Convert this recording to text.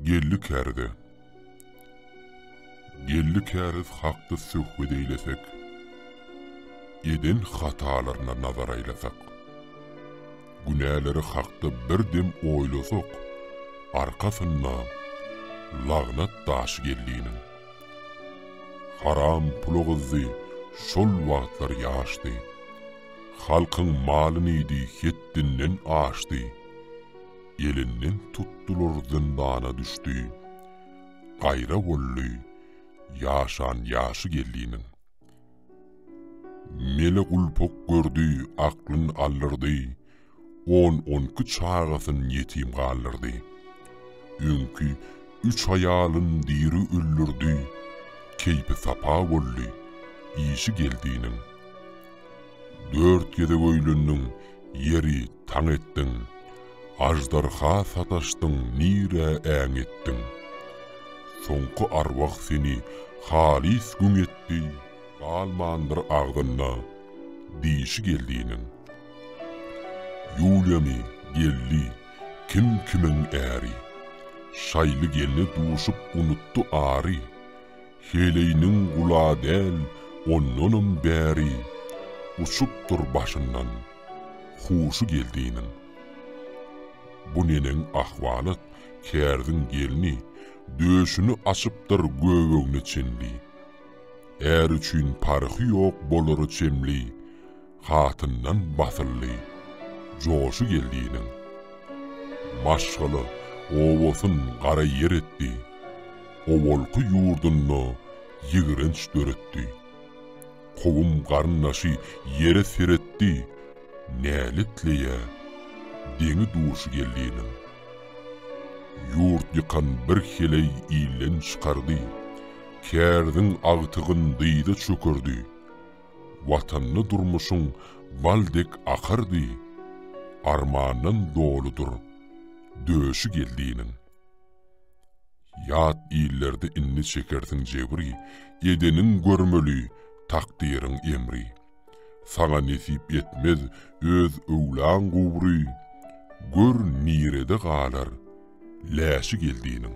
Geldi kärde. Geldi käriz hakda söhbet eýlesek. Eden hatalaryna nazar aýlasak. Günäleri hakda bir dem oýlasak, arkasynda lagnat daşy geldiniň. Haram pula gyzdy, şol wagtlar ýaşdy. Halkyň malyny iýdi, hetdinden aşdy. Elinden tutdular, zyndana düşdi. Gaýra boldy, ýaşan ýaşy geliniň. Mele gulpuk gördi, aklyn aldyrdy, On-on iki çagasyn ýetim galdyrdy. Öňki üç aýalyn diri öldürdi, Keýpi sapa boldy, işi geldiniň. Dört gezek öýlendiň, ýeri taň etdiň, Aždarha sataşdyň nirä äň etdiň. Soňky arwah seni halys güň etdi, Galmandyr agzynda dişi geldiniň. Ýuliýany, geldi, kim kimiň äri, Şaýly gelne duşup unutdy ary, Heleýniň gula däl ondanam bäri, Uçupdyr başyndan. Huşy geldiniň. Bu neneň ahwalat, kärziň gelni, döşüni açypdyr göbegine çenli. Är üçin parhy ýok bolara çemli, hatyndan basyldy, joşy geldiniň. Maşgala, obasyn gara ýer etdi, owalky ýurdunda ýigrenç döretdi. Kowum garyndaşy ýere seretdi, Näletleýä, deňi-duşy geldinim. Ýurt ýykan bir heleý ilden çykardy, Kärziň agtygyn dyza çökerdi. Watanda durmuşyň bal dek akardy, Armandan doludyr döşi geldiniň. Ýat illerde indi çekersiň jebri, Edeniň görmeli, takdyryň emri. Saňa nesip etmez öz öwlaň gubry, Gör, nirede galar läşi geldiniň.